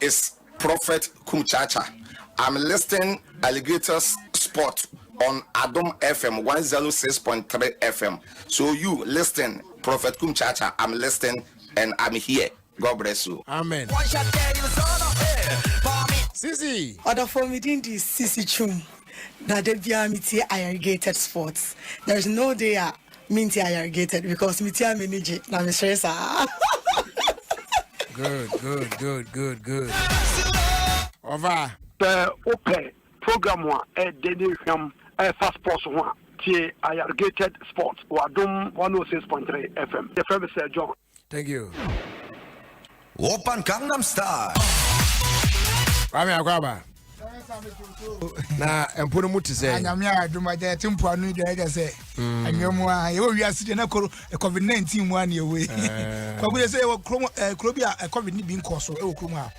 is prophet Kuchacha I'm listing alligators spot on adom FM one zero six point three FM so you listing prophet Kuchacha I'm listing and I'm here God bless you. Amen. Sisi. Ɔdɔfo mi din di Sisi Chum na de biara mi tie alligator sports there is no day a Me nti I irrigated because me ti a m'ani gye na me sere saa. Good, good, good, good, good. Ova. Sɛ wopɛ program a ɛdɛ ne ehwam ɛfa sports ho a, tie I irrigated sports wɔ Adom 106.3 FM. Yɛfrɛ me Sir John. Thank you. Open Gangnam Style. Kwame Akwaba. na mpo no mu te sɛ anyame a adom agya yɛte mpoa no dwa ɛgya sɛ anwea mu a yɛwɔ wiase deɛ na koro covid 19 mu a ne yɛwei kwagu yɛ sɛ yɛwɔ kuro bi a covid ne bi nkɔ so ɛwɔ kurom a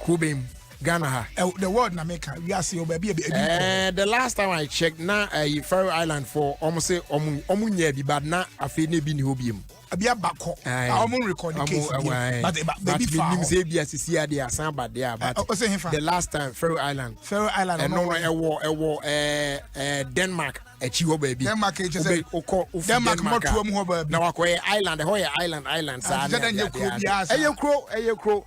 kubem Ghana ha. Uh, the world na meka wiase o baabi ebi. Eh, the last time I checked na uh, Faroe Island for ɔmo sɛ ɔmo ɔmo nyɛ bi but na afei na ebi ni hɔ bi mu. ebi abakɔ a wɔn record case bi but eba ebi fa hɔ but sɛ ebi asisi adi asan aba de a but ɔsɛ hefa the last time Faroe Island Faroe Island ɛno no ɛwɔ ɛwɔ ɛɛ ɛɛ Denmark akyi hɔ baabi Denmark akyi sɛ okɔ Denmark mɔtuo mu hɔ baabi na wakɔ yɛ island ɛhɔ yɛ island island saa ne ɛyɛ kuro ɛyɛ kuro.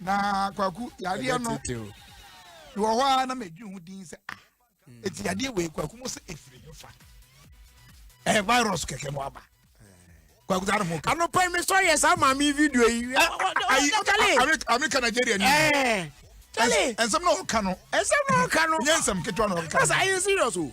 na kwaku yadeɛ no wɔ hɔ a na medwe ho din sɛ a ɛti yadeɛ wei kwaku mo sɛ ɛfiri ho fa ɛyɛ virus kɛkɛ mo aba kwaku saa ne ho kɛ anɔpa mi sɔ yɛ saa maame video yi ayi amerika nigeria ni ɛnsɛm na ɔka no ɛnsɛm na ɔka no nyɛ nsɛm ketewa na ɔka no ɛsɛ ayɛ serious o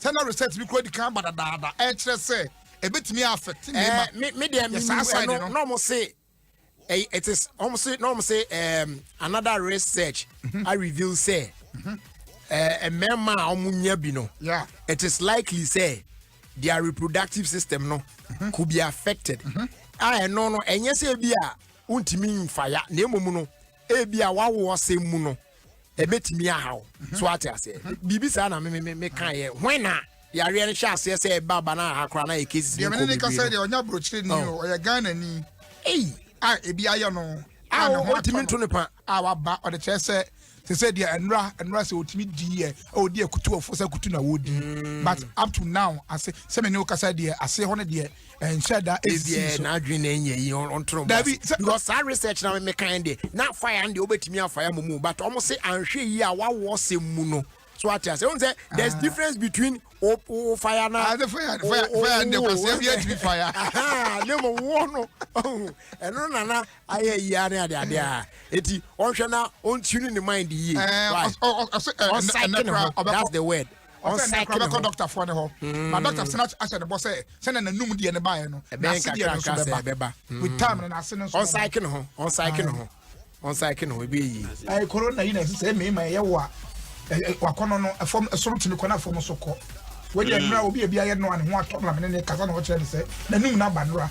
sɛ na research bi kura di kan aba dadaada ɛkyerɛ sɛ ebetumi afɛte eh, mmarima. ɛɛ me deɛ mi nu ɛno na wɔn se ɛyɛ it is wɔn se na wɔn se ɛɛm another research mhm. a reveal sɛ mhm. ɛɛ mmarima a wɔn nya bi no it is likely sɛ their reproductive system no mhm. could be affected a ɛno no ɛnyɛ sɛ ebi a ntumi nfa ya na emu no. Ebia w'awo ɔsɛm mu no, ɛbɛtumi aha wo. So ate aseɛ? Biribi saa na me me ka yɛ. Hwɛn na yareɛ no hyɛ aseɛ sɛ ɛba ba na aha koraa na yɛ cases no kɔ bebree no. Deɛ me ne ne ka sɛ deɛ ɔnyɛ aburokyire ni o, ɔyɛ Ghana ni. Ei. A ebi ayɛ no. A ne ho atumi nto ne pa. A waba ɔde kyerɛ sɛ te sɛ deɛ ɛnora ɛnora sɛ ɔtumi di yɛ ɔdi akutuɔfo sɛ kutu na wɔdi mm. but up to now ase sɛ me ne wo kasa deɛ ase hɔ no deɛ ɛnhyɛ da ɛsisi so n'adwene na ɛnyɛ yi ɔntoro dabi because saa research na me kan de na fire no deɛ wobɛtumi afa ya mu but ɔmo se anhwɛ yi a wawoɔ sɛm mu no so ate ase ɛhu sɛ there's ah. difference between o o fire na ah, fire fire fire de kwasia bi atumi fire ne mo wo no ɛno nana ayɛ yia ne ade ade a eti ɔnhwɛ na ɔntuni ne mind yie ɔsɛ ɛnɛ kora ɔbɛkɔ that's the word ɔsɛ nnɛ kora bɛkɔ dɔktafoɔ no hɔ hmm. na dɔkta sena ahyɛ ne bɔ sɛ sɛnɛ nanum deɛ no baeɛ no nase deɛ no nso bɛba with hmm. time no nase no nso ɔnsaeke ne ho ɔnsaeke ne ho ɔnsaeke ne ho ebi eyi. ɛɛ koro na yi na ɛsɛ sɛ mmarima ɛyɛ wɔ a wakɔnɔ no ɛfɔm ɛsoro tumi kɔ na fɔm so kɔ wɔde ɛnura hmm. obi ebi ayɛ no a ne ho atɔ na mene ne kasa na ɔkyerɛ ne sɛ nanum na aba nura.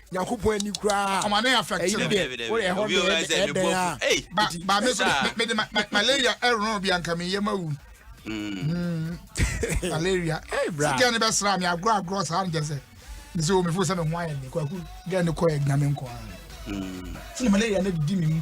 nyankopɔn ani koraa ɔma ne affect ɛyi deɛ wode ɛhɔ deɛ ɛdɛn a ba ba me so mede malaria ɛrono bi anka meyɛ ma wu hmm. malaria sɛ gɛ ne bɛsra me agorɔ agorɔ saa no kyɛ sɛ me sɛ ɔmefo sɛ me ho ayɛ me kwaku gɛ ne kɔɛ nyame nkɔ sɛ malaria no di me mu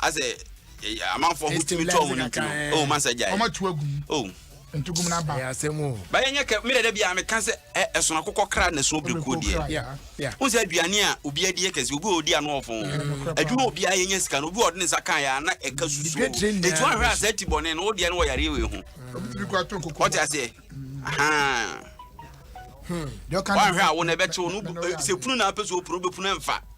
asɛ amanfoɔ ho tumi tɔ wɔn nti no oh man sɛ gya yi ɔmatu agu mu oh ntugum na ba asɛm o ba yɛn nyɛ kɛ mi dɛdɛ bi a mi kan sɛ ɛ ɛsono akokɔ kra na ɛsono birikuo deɛ n sɛ aduane a obi adi yɛ kɛse obi a odi ano ɔfo adwuma obi a yɛ nyɛ sika no obi a ɔde ne nsa kan yɛ ana ɛka susu etu ahwɛ asɛ ti bɔ ne no o deɛ no wɔ yare wei ho ɔte aseɛ ahan wɔn ahwɛ awo na ɛbɛkyew no sɛ punu na apɛ so opunu bɛ punu ɛnfa.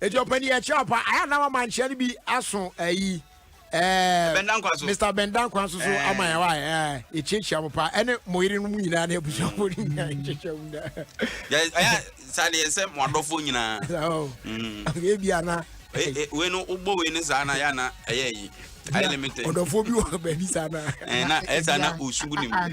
Eti ɔpɛ deɛ ɛkyɛ ɔpa. Ayɛ na wama nkyea no bi aso ayi. Ɛɛ Bɛnda nkwa so. Mr Bɛnda nkwa so so ama yɛ wa ɛɛ ekyiakyia mo pa ɛne mo yere no mu nyinaa ne abusuafo ne nyinaa ekyiakyia mo nyinaa. Yɛ ɛyɛ saa deɛ sɛ mo adɔfo nyinaa. Ɛyɛ bi ana. Wei no wobɔ wei ne saa na yɛ ana ɛyɛ yi. ayɛ ne mete ɔdɔfoɔ bi wɔ baabi saa na eh, na ɛyɛ eh, saa na ɔsugu ne mu ah,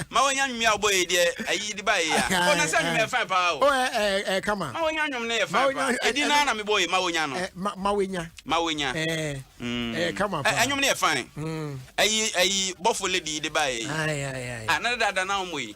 ma wɔnya nwumi a wobɔ yɛ deɛ ayi de baeɛ a ɔna sɛ nwumi yɛ fan paa o oh, eh, eh, kama ma wɔnya nwom no yɛ fan paa ɛdi no na mebɔ yɛ ma wɔnya no ma wɔnya ma wɔnya mm. kama paa ɛnwom no yɛ fan mm. ayi ayi bɔfo lady de baeɛ yi ah, na dada na wɔmmɔ yi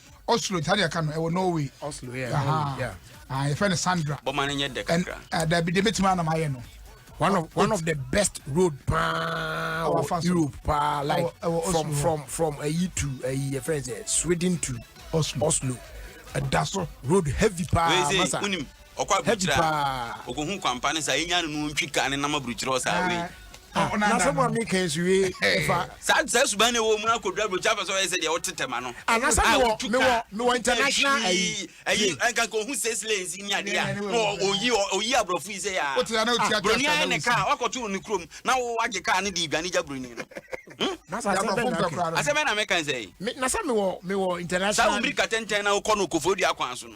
Oslo saa deɛ ɛka no ɛwɔ Norway. Oslo yɛ Norway yeah. Ah yɛfrɛ no Sandra. Bɔma no nyɛ dɛ kakra. Eh, dabi deɛ mɛtumi anam ayɛ no. One of one of the best road paa wɔ Europe paa like from from from ayi to ayi yɛfrɛ sɛ Sweden to Oslo. Oslo. Ɛda so road heavy paa masa. Ɔkɔ aburukyire a, ɔkɔhu kwampa no saa, ɛnya no no ɔntwi ka ne nam aburukyire hɔ saa wei. Ah, ah, na sɛ mo a meka nso wie fa. saa saa suban na ɛwɔ mu akɔduru aburokyɛ afɛ sɛ ɔyɛ sɛ deɛ ɔte tɛma no ah, na sɛ ah, mewɔ mewɔ mewɔ international ayi ayi nka nka ohun six lanes ni ade a na oyi oyi aborɔfo yi sɛ yɛ a buroni ayɛ ne kaa wakɔto ne kurom na wagye kaa ne de idwane gya buroni no asɛm na meka nsɛ yi na sɛ mewɔ mewɔ international saa wɔn mirika tɛntɛn na wokɔ no kofo dua kwan so no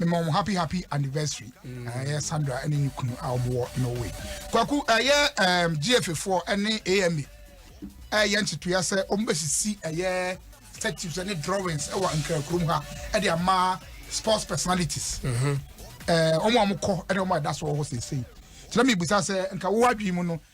mema wɔn happy happy anniversary mm. ɛyɛ sandra ɛne ne kunu a wɔn wɔ norway kwaku ɛyɛ ɛɛm gfa foɔ ɛne ama ɛyɛ nkyetoya sɛ wɔn bɛsisi ɛyɛ statues ɛne drawings ɛwɔ nkrakurom ha ɛde ama sports personalities ɛɛ mhm. wɔn a wɔn kɔ ɛne wɔn a ɛda so wɔ hɔ sese kyerɛ mi bisa sɛ nka wɔn adwene mu no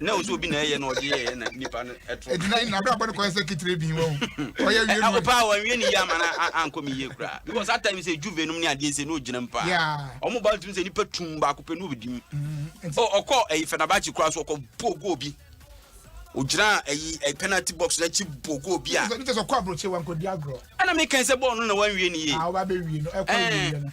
na nso obi na ɛyɛ na ɔde yɛyɛ na nipa no ɛtɔ. eti na na abrabɔ no kɔyɛ sɛ kitire bi wɔn ɔyɛ wie no. ɔpaa wɔn wie ne yie ama na ankɔ mi yie koraa because at times sɛ juve nom ne adeɛ sɛ n'o gyina mu paa wɔn ba ntumi sɛ nipa tum baako pɛ n'o bɛ di mu ɔkɔ ɛyi fɛnabakyi koraa so ɔkɔ bɔ goal bi ogyina ɛyi ɛyi penalty box n'akyi bɔ goal bi a. ɛna mi kɛn sɛ bɔɔl no na wɔn wie ne yie. ɛɛ ɔba bɛ wie no ɛkɔ wie no.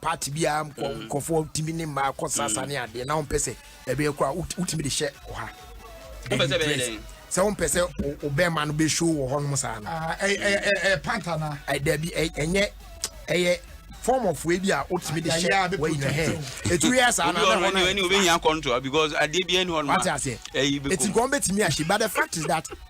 party biara nkɔ nkurɔfoɔ tumi ne mmaa kɔ sasa ne adeɛ na wɔmpɛ sɛ ɛbɛyɛ kora wotumi de hyɛ ɔha sɛ wompɛ sɛ wobɛma no bɛhyo wɔ hɔ nom saa no dabi ɛnyɛ ɛyɛ form of way bi a wotumi de hyɛ wɔyina hɛ ɛtu yɛ saa nabɛhɔnobɛhia control because adeɛ bi ɛni hɔ no ɛti nkɔm bɛtumi ahye but the fact is that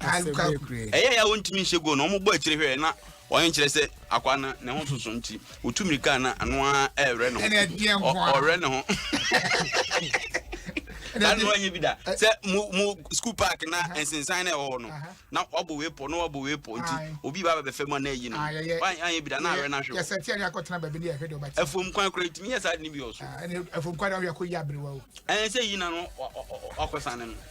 ɛyɛ ya wɔntumi nhyɛ goal no wɔbɔ akyire hwɛ na wɔn nkyerɛ sɛ akwa no ne ho soso nti wotu mirika na ano ara ɛrɛ ne ho ɔrɛ ne ho ano anyɛ bi da sɛ mo mo school park na nsensan na ɛwɔ hɔ no na wabɔ wei pɔ na wabɔ wei pɔ nti obi ba bɛfɛ mu na ɛyi no anyɛ bi da na awɛ na ahwɛ yɛsɛ tia ne akɔtena baabi ne yɛhwɛ de ɔbɛkyɛ ɛfom kwan kora ntumi yɛ saa de ne bi wɔ so ɛfom kwan na ɔyɛ akɔ yi aberewa o ɛnsɛ yi na no wakɔsan ne no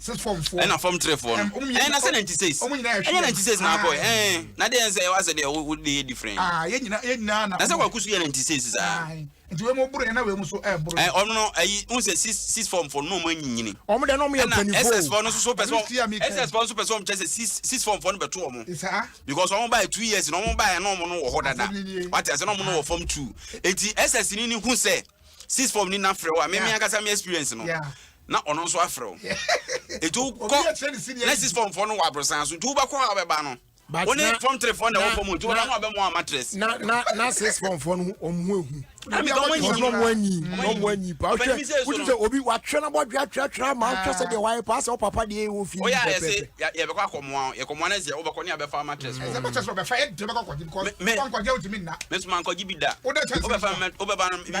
ɛna fam trefoɔ no ɛn na sɛ 96 ɛnyɛ 96 na akɔ ɛn na deɛ nsɛ ɛwɔ asɛ deɛ wo deɛ yɛ different ah, na sɛ wakusu yɛ 96 saa nti wei mu boro yɛ na wei mu so ɛboro ɛ ɔno no ɛyi n sɛ six six form fo no ɔmo anyinyini ɔmo deɛ na ɔmo yɛ mpanyinfo ɛna ss fo no soso pɛ sɛ ss fo no soso pɛ sɛ ɔmo kyɛ sɛ six six form fo no bɛto ɔmo because ɔmo baa two years na ɔmo baa yɛ na ɔmo no wɔ hɔ dada wate ase na ɔmo no wɔ form two eti ss ni ni hu sɛ six form ni na frɛ wa mɛ mi ankasa mi experience no. Yeah. na ɔno nso afrɛ wo nti wokɔ na six form foɔ no wɔ aborosan so nti wobɛkɔ a wobɛba no wo ne form three foɔ na ɛwɔ fam nti wobɛba no abɛmɔ a matress na na na six form foɔ no ɔmo ho ehu ɛmi ka ɔmo anyi ɔmo ɔmo anyi ɔmo anyi pa ɔhwɛ wotu sɛ obi watwerɛ na bɔdwe atwerɛ atwerɛ ama ahwɛ sɛ deɛ wayɛ paa sɛ ɔpapa deɛ ɛwɔ fi mu pɛpɛpɛ yɛbɛkɔ akɔmoa yɛkɔmoa no sɛ wobɛkɔ ne abɛfa matress fɔ ɛbɛkɔ sɛ ɔbɛfa yɛ de bɛkɔ kɔgye because wankɔgye wotumi nna mesoma nkɔgye bi da wobɛfa wobɛba no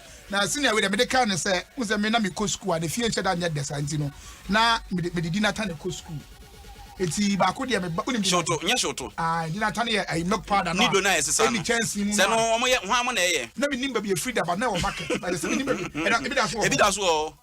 Na senior wei deɛ mede kaa no sɛ wo sɛ me na mekɔ sukuu a ne fie nhyɛ da nyɛ dɛ saa nti no na mede mede di nata ne kɔ sukuu eti baako deɛ meba wonim shooto nyɛ shooto ah di nata ne yɛ ayi milk powder no nido na yɛ sesa no kyɛnse mu sɛ no wɔn yɛ hwan mo na ɛyɛ na menim baabi efiri daba na ɛwɔ market na yɛ sɛ menim baabi ɛda ebi da so wɔ ebi da so wɔ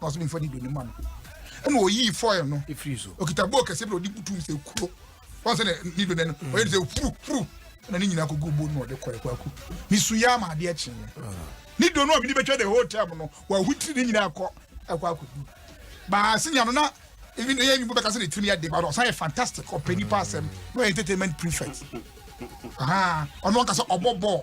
na ɔsɛ mfa nido ne ma no ɛna ɔyii fɔil no ɛfiri so ɔkita bɔɔ kɛseɛ bi na ɔde butum sɛ kuro wɔn sɛ nido ne no mm. ɔyɛ ne sɛ furu furu ɛna ne nyinaa kɔgu bo no ɔde kɔɛ kwaku mesu yɛ ama adeɛ kye ah. ne do no a mede bɛtwa the whole time no wahu tiri ne nyinaa kɔ ɛkɔ akɔdu baase nya no na even ɛyɛ nyimbo bɛka sɛ ne tirim yɛ de ba no ɔsan yɛ fantastic ɔpɛ nipa asɛm na ɔyɛ entertainment prefect ɔno ɔka sɛ ɔbɔ bɔɔl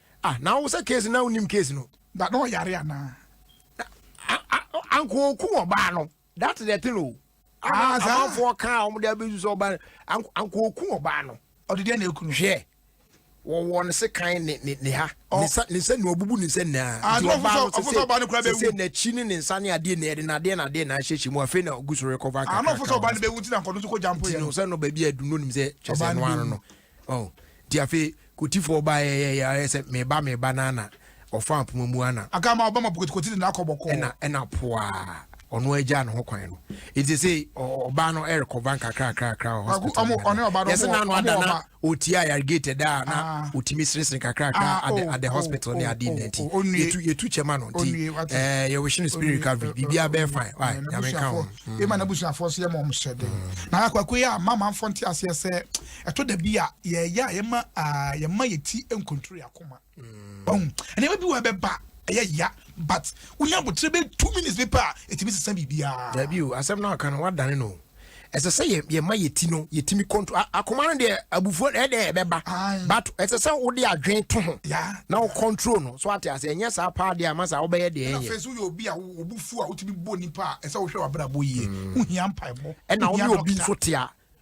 Ah na wo sɛ case no na wonim case no. But na ɔyare anaa? Anko oku ɔbaa no that's the thing o. Ah saa. Amanfoɔ kaa wɔn de abɛsu sɛ ɔbaa no anko oku ɔbaa no. Ɔde deɛ na eku no. Hwɛ wɔwɔ ne se kan ne ne ne ha ne nsa ne nsa nua ɔbubu ne nsa nyinaa nti ɔbaa no sese sese n'akyi ne ne nsa ne adeɛ na yɛde n'adeɛ na adeɛ na ahyehyɛ mu afei na ɔgu so rekɔfa kakra kakra ɔbaa no bɛwu nti na nkɔdo so kɔ gyampo yɛ no sɛ no baabi a adunu nim sɛ kyɛ sɛ no ano no Oh, nti afei Kotifoɔ baeɛ yɛ yɛ ayɛ sɛ meba meba no ana ɔfa apoma mu ana. Aka ama ɔbɛma Kotikoti de n'akɔ bɔkɔɔ. Ɛna ɛna poaa ɔno agyaa ne ho kwan no. Nti sɛ ɔbaa no ɛrekɔva nkakrakrakra wɔ hospital mu. Ɔne ɔbaa no yɛsɛ n'ano ada na ɔtia yargated a na ɔtumi ah. seresere kakrakra ah, at oh, the oh, hospital ne ade nna nti yɛtu yɛtu kyɛma no nti ɛɛ yɛwɔhyɛ no spirit recovery biribiara bɛyɛ fine. Nyame ka ho. Ɛma n'abusuafoɔ so yɛ ma ɔmo hyɛ den. Na akwakuo yi a mama nfɔ nte aseɛ sɛ. Ɛtɔ da bi a yɛyɛ a yɛma yɛma yɛ ti nkontoro yɛ akoma mm. nneɛma bi wɔ ɛbɛba ɛyɛ ya but wonya abotire bɛ two minutes bi pɛ a ɛtumi sesa biribiara. dabi o asɛm no aka no wadane no ɛsɛ sɛ yɛma yɛ ti no yɛtumi control akoma no deɛ abufuo ɛdeɛ ɛbɛba but ɛsɛ sɛ wode adwene to ho na wo control no so ate ase ɛnyɛ saa paa deɛ ama saa wobɛyɛ deɛ ɛnyɛ ɛfɛ so yɛ obi a wobufuo a wotumi bɔ nipa a ɛsɛ wohwɛ wabrabɔ yie mm. wohia mpaebɔ ɛna wone obi nso tea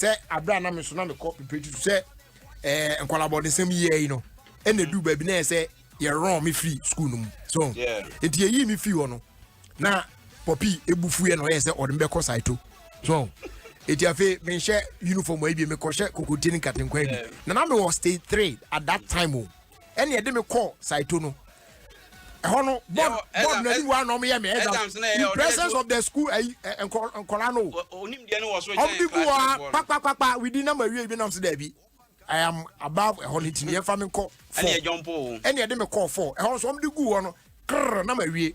sɛ abira a na me nso na mekɔ pipiriti so sɛ ɛɛ nkɔlabɔdesɛm yi yɛ yi no ɛna edu baabi na yɛ sɛ yɛrɔn me firi sukuu no mu so nti yɛyi me firi hɔ no na pɔpi ebu fu yɛ na ɔyɛ sɛ ɔde me bɛkɔ saito so eti afei menhyɛ uniform ayi bi mekɔhyɛ kokotie ne nkatenkwa bi na na mewɔ stage three at that time o. Oh. ɛna ɛde me kɔ saito no ɛhɔ no board board na ɛdi wa na ɔmo yɛ mi exams in presence of the school ɛyi eh, eh, nkɔla no ɔmo di gu hɔ a kpakpakpakpa widi na ma wie bi na ɔmo si dɛbi i am above ɛhɔ no ti mi yɛn fa mi kɔ fɔ ɛna ɛde mi kɔ fɔ ɛhɔ nso ɔmo di gu hɔ no krrr na ma wie.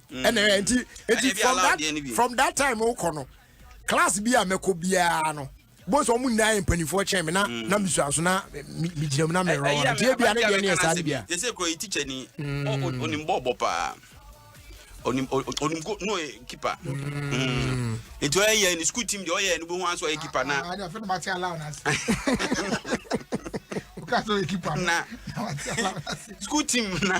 ɛna mm. nti nti from that from that time wokɔ no class bi a mɛkɔ biara no bó sọ ọmú nyinaa yẹ mpanyinfoɔ kyɛn mi na mm. na misua so na mi gyina mu na mi rɔn nti ebi a ne deɛ ne yɛ saa ne bia. yɛ sɛ kuro yi tikya ni mm. onim bɔɔl bɔ paa onim onim ko no yɛ kipa mm. nti ɔyɛ yɛ ne sukuu tim deɛ ɔyɛ ne bo ho aso ɔyɛ kipa na. adi afɛn ma ti ala ɔna se o ka so yɛ kipa na sukuu tim na.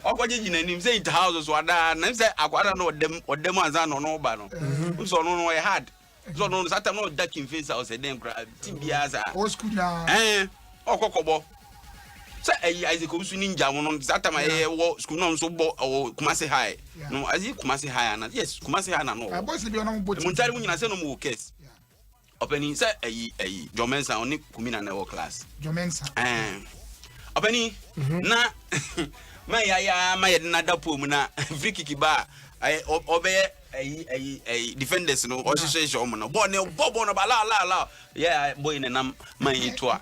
ɔkɔgyegye n'anim sɛ it house so adaa na sɛ akwadaa no ɔdam ɔdam ansa na ɔno ba no mhm. nso ɔno no ɔyɛ hard nso ɔno no satam na ɔda king face a ɔsɛ dɛn koraa ti biara saa ɛn ɔkɔ kɔbɔ sɛ ɛyi isaac owusu ni ngya wɔn satam a ɛyɛ wɔ sukuu na nso bɔ ɔwɔ kumase high no ɛyɛ kumase high ana yes kumase high na no ɔwɔ ɛmu ntaade mu nyina sɛ na ɔmo wɔ kɛs. Ɔpanin sɛ ayi ayi John Mensah ɔne Kumina na ɛwɔ class. John Mensah. Ɛɛ ɔpanin mhm. na ma yaya ma yɛde na da pool mu na free kick ba ɛyɛ ɔbɛyɛ ɛyi ɛyi ɛyi defenders no ɔhyehyɛ hyɛ ɔmo no bɔɔl ne bɔ bɔɔl no ba laa laa laa yɛ bɔyi ne nam ma yi to a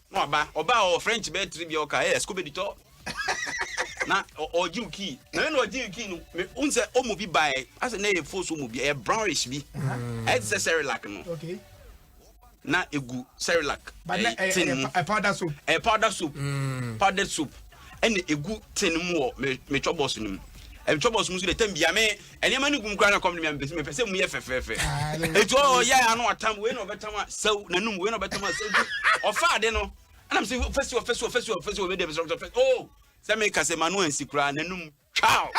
Na waba ɔbaa ɔwɔ French bɛyɛ tiri bia ɔka ɛyɛ skobedi tɔ na ɔgye wo kii na mena ɔgye wo kii no wohu sɛ ɔmu bi baɛ asɛ na ɛyɛ fos ɔmu bi ɛyɛ brownish bi ɛyɛ te sɛ serilac no na ɛgu serilac tin mu ɛyɛ powder soap ɛyɛ powder soap mm. powder soap ɛna ɛgu tin mu wɔ metwɔ bɔs no mu metwɔ bɔs mu so dɛ tam bia me Nneɛma no gum koraa na kɔm de me a mepɛ sɛ mepɛ sɛ mu yɛ fɛfɛɛfɛ. Eti ɔɔ yɛ ano atam wei na ɔbɛtam a sɛw n'anum wei na ɔbɛtam a sɛw nti ɔfa ade no ɛna me sɛ ɔfɛsi ɔfɛsi ɔfɛsi ɔfɛsi ɔbɛ de ɛbɛsɛ ɔfɛsi oo sɛ meka sɛ ma no ansi koraa n'anum twaaw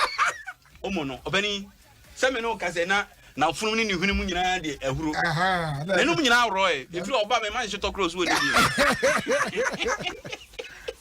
ɔmo no ɔbɛni sɛ me no ka sɛ na na ɔfunum ne ne hwene mu nyinaa de ahuro n'anum nyinaa worɔ ɛ efiri ɔba mɛ ma nhyɛ tɔkorɔ so wɔ ne bi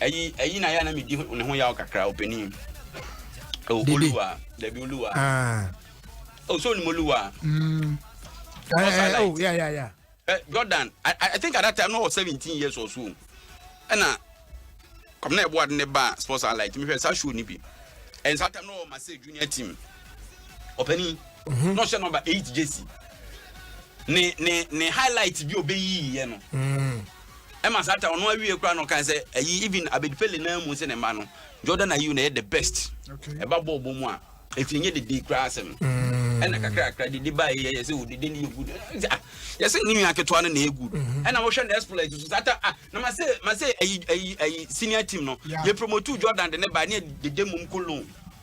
ɛyi ɛyi na yɛ na mi di ne ho yaw kakra opanin o oh, oluwa dabi oluwa o ah. oh, so ni mo oluwa. Mm. Uh, uh, oh yeah yeah yeah. Uh, Jordan I, I think at that time no was seventeen years or so ɛna kɔmi na ɛbɔ adi ne ba sports and light mi fɛ sa show ni bi ɛn sa time no wɔ ma se junior team ɔpɛni n'o hyɛ number eight jersey ne ne ne highlight bi o bɛ yi yɛ no. Mm. ɛma saa ta ɔno awie kora na ɔkae sɛ ayi even Abed Pele naa mu sɛ ne mma no Jordan Ayew na ɛyɛ the best ɛba bɔɔl bɔ mu a ɛfiri nyɛ dede koraa asɛm mm. ɛna kakrakra dede ba yɛ yɛ sɛ o dede no yɛ good ah, yɛ sɛ ne nua ketewa no na ɛyɛ good mm-hmm. ɛna wɔhwɛ no exploit so saa ta ah na ma sɛ ma sɛ ayi ayi ayi senior team no yɛ promote Jordan de ne ba ne dede mum kolon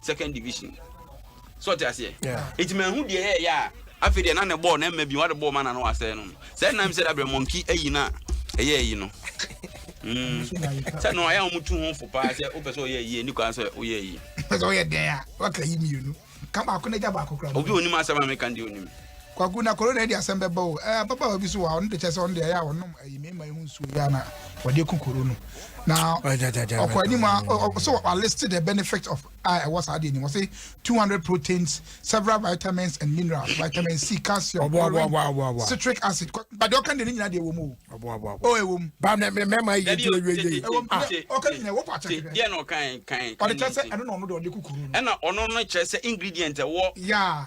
second division so ɔte aseɛ ɛti mahu deɛ ɛyɛ yɛ a afei deɛ na ne bɔɔl na ɛma bi wade bɔɔl ma na no asɛe no sɛ nam sɛ dabrɛ mɔnki ayi no a ɛyɛ ayi no hmm. sɛ no ayɛ wɔn tu ho fo paa sɛ wopɛ sɛ ɔyɛ ayi ɛni kwan sɛ woyɛ ayi pɛ sɛ ɔyɛ dɛn a waka yi mmienu ka baako na gya baako kora obi onim asɛm a meka deɛ onim Kwaku, na corona yi de asɛm bɛba o. Ɛɛ, ababaawa bi so wɔ ha, ɔno de kyɛ sɛ ɔno de ɛyɛ a ɔnom ɛyi mmarima yi ho nsuo yi a na wɔde ku koro no. Na ɔkɔ anim a, so wɔ list the benefit of a ɛwɔ saa deɛ ni. Wɔse 200 proteins, several vitamins and minerals, vitamin C, calcium, chlorine, citric acid. Ba deɛ ɔka deɛ ne nyinaa deɛ ɛwɔ mu o. O ɛwɔ mu. Ba na mɛma yɛ di ɛwɔ yɛ. Ɛwɔ mu. Ɔka ne nyinaa ɛwɔ pa kyɛkɛ. Deɛ na ɔka kan kan. Ɔde kyɛ sɛ ɛno na ɔno de ɔde ku koro no. Ɛna ɔno no kyerɛ sɛ ingredient ɛwɔ. Yeah.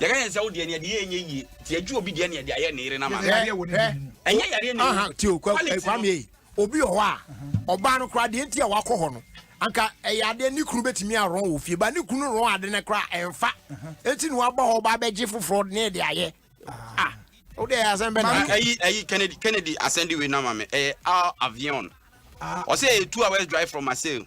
Yɛka yɛn sɛ wo deɛ nea de yɛ nyɛ yie nti yɛgye obi deɛ nea de ayɛ ne yere n'ama. Hwɛ hwɛ ɛnyɛ yareɛ ne mu. Tio kwame obi wɔ hɔ a ɔbaa no koraa deɛ nti a wakɔ hɔ no anka ɛyɛ adeɛ ne kunu bɛtumi arɔn wɔ fie ba ne kunu rɔn ade no koraa ɛmfa ɛnti ne waba hɔ ɔba bɛgye foforɔ ne de ayɛ ah wo deɛ ɛyɛ asɛm bɛna ɛyi ɛyi Kennedy Kennedy asɛnde wei no ama me ɛyɛ avion ɔsɛ ɛyɛ two hours drive from Marseille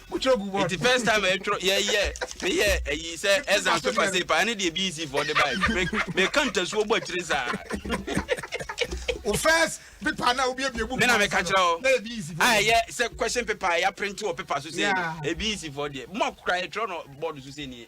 wotwerɛ gu bɔ. Nti first time a yɛtwerɛ yɛyɛ meyɛ ayi sɛ exam paper sɛ paa ne deɛ BEC foɔ de bae meka ntasuo bɔ akyire saa. o first paper na wobiebie book mena meka kyerɛ hɔ a ɛyɛ sɛ question paper a yɛaprente wɔ paper so sɛ ɛyɛ BEC foɔ deɛ mo akokora yɛtwerɛ no board so sɛ nie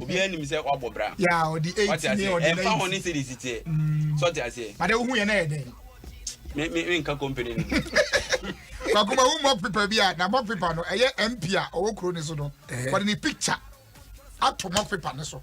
obiara nim sɛ wabɔ bra ya ɔde eight wate aseɛ ɛmfa ho ne series teɛ mm. sɔte aseɛ bade wohu yɛ na yɛ dɛn me me me nka company no bakuma wo mock paper bi a na mock paper no ɛyɛ mp a ɔwɔ kuro ne so no eh. wɔde ne picture ato mock paper ne so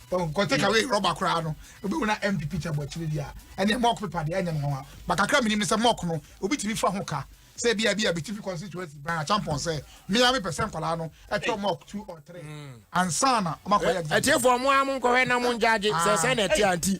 nkɔ take away rɔba koraa no obi wona mp picture bɔ akyire deɛ ɛne mɔk pepa deɛ ɛnyɛ nwanwa ba kakra menim no sɛ mɔk no obi tumi fa ho ka sɛ bia bia bɛtifi constituency bran achampɔn sɛ mea mepɛ sɛ nkɔlaa no ɛtɔ mɔk two or three mm. ansa na ɔmakɔyɛ ɛtiefoɔ mo a monkɔhwɛ na mongyagye sɛ sɛ na ɛte anti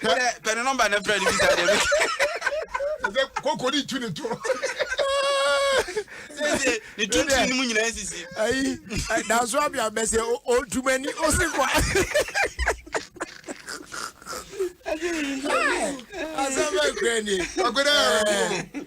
Hwɛ. Wodɛ pɛ ne nɔmba na frɛ no bisa deɛ bɛka. Ɛsɛ koko ne tu ne to. Sese ne tuntun ne mu nyinaa sisi. Ayi danso abia bɛsɛ o tumani o si kwa. Asɛm bɛ kura ni. Ɔkura ɛɛ.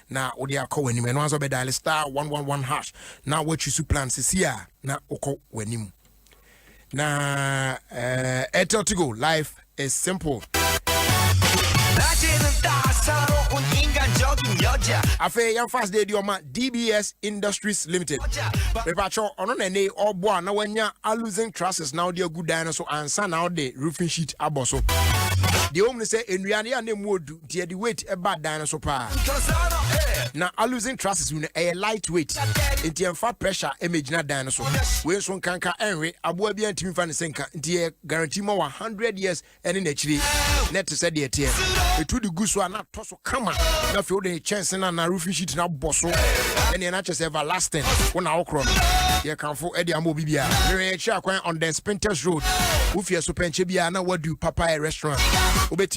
na wode akɔ w'anim ɛno ansa wobɛdaale star 111 hash na woatwi so plan sisi a na wokɔ w'anim na uh, airtel to go life is simple afei yɛmfa asde adi ɔma dbs industries limited mepakyɛ ɔno na ɛne ɔbɔ a na wanya alusen trusses na wode agu dan no so ansa na wode roofing sheet abɔ so deɛ wɔm no sɛ nnua no yɛ a na ɛmu ɔdu nti yɛde weight ɛba dan no so paa na alusin trusses no ɛyɛ light weight nti ɛmfa pressure ɛmɛgyina dan no so wei nso nkanka ɛnwe aboa bi antumi fa ne sɛ nka nti yɛ guarantee ma wa 100 years ɛne n'akyiri na ɛte sɛ deɛ ɛteɛ ɛtu de gu so a na atɔ so kama na afei wode kyɛnse no anaa roofing sheet no abɔ so ɛneɛ no akyɛ sɛ everlasting wo na wokorɔ no yɛkamfo ɛde ama obi biara werɛ yɛkyerɛ akwan on the spinters road wofie so pɛnkyɛ biara na wadu papaɛ restaurant wobɛti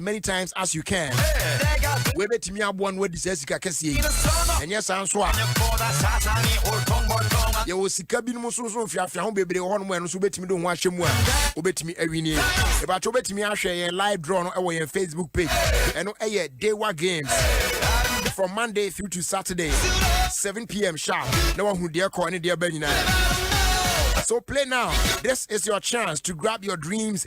many times as you can wobɛtumi aboa no wadi saa sika kɛseɛ yi ɛnyɛ saa nso a yɛwɔ sika binom nso nso mfiafia ho bebree wɔ hɔnom ɛno nso wobɛtumi de ho ahyɛ mu a wobɛtumi awinie ɛbakyɛ wobɛtumi ahwɛ yɛn live draw no ɛwɔ yɛn facebook page ɛno ɛyɛ dewa games from monday through to saturday 7 pm sharp na wahu deɛ kɔ ne deɛ ba nyinaa so play now. This is your chance to grab your dreams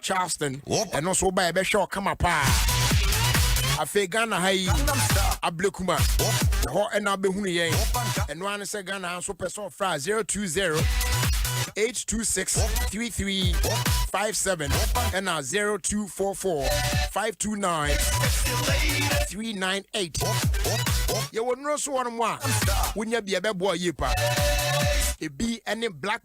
Charleston ɛno nso woba yɛbɛhwɛ ɔkama paa afei Ghana ha yi ablekuma hɔ ɛna bɛhunu yɛn ɛno ara ne sɛ Ghana ha nso pɛ sɛ ɔfra 020 826 3357 ɛna 0244 529 398 yɛwɔ nnuro so hɔ no mu a wonya bi ɛbɛboa yie paa ebi ɛne black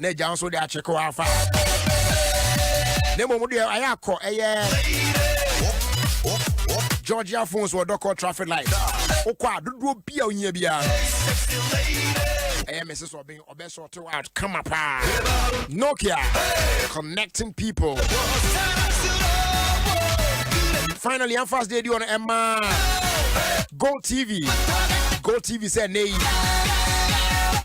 na agya nso de akyekɔ afa na mmom deɛ ayɛ akɔ ɛyɛ georgia phones wɔ dɔkɔ traffic light wokɔ a dodoɔ bi a wohia biara no ɛyɛ mrs ɔben ɔbɛsɔte wo out kama paa nokia connecting people finally I'm fast day on Emma. Go TV. Go TV said nay.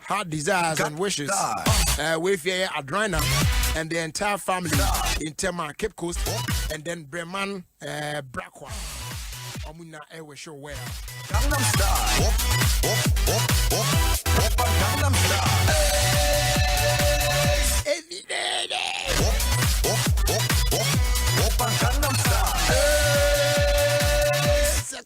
heart desires and wishes. Uh, we fear Adrina and the entire family in Tema, Cape Coast, and then Breman uh, Brakwa. Omuna Ewe Show Well. Gangnam Style. Op, op, op, op, op, Gangnam Style. Every day. Op, op, op, op, op, Gangnam Style.